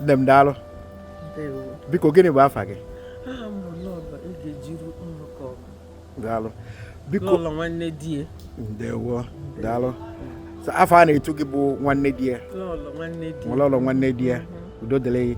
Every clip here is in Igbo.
nne m daalụ biko gịnị bụ afa gị daalụ biko nwanne di ya ndewo daalụ afa a na-etu gị bụ nwanne di ya lọlọ nwanne di ya udo dịrị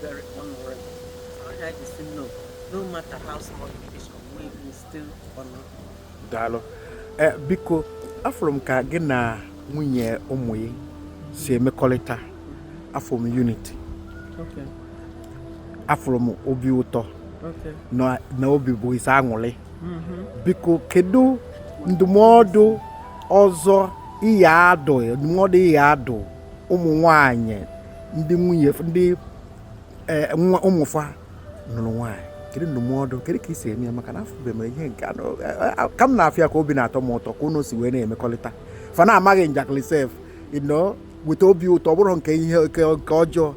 very honorable. I like to say no, no matter how small it is, we will still honor. Daalụ. Eh, biko, afụrụ m ka gị na nwunye ụmụ gị si emekọrịta afụrụ m unity. Okay. Afụrụ m obi ụtọ. Okay. Na, na obi bụ gị sọ aṅụrị. Mm-hmm. Biko, kedu ndụmọdụ ọzọ ị ya-adụ ndụmọdụ ị ya-adụ ụmụ nwanyị ndị nwunye ndị eh, nwa ụmụ fa nụrụ nwaanyị kedu ndụmọdụ kedu ka ị si eme ya maka na afọ be mere ihe nke anọ ka m na-afụ ya ka obi na-atọ m ụtọ ka unu si wee na-emekọrịta fa na-ama gị njakịrị sef ị na-eweta obi ụtọ ọ bụrụ nke ihe nke ọjọọ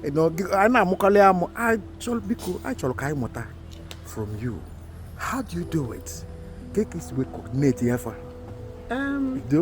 ị nọ na-amụkọrị amụ biko anyị chọrọ ka anyị mụta from you how do you do it ka ka ị si wee coordinate ya fa do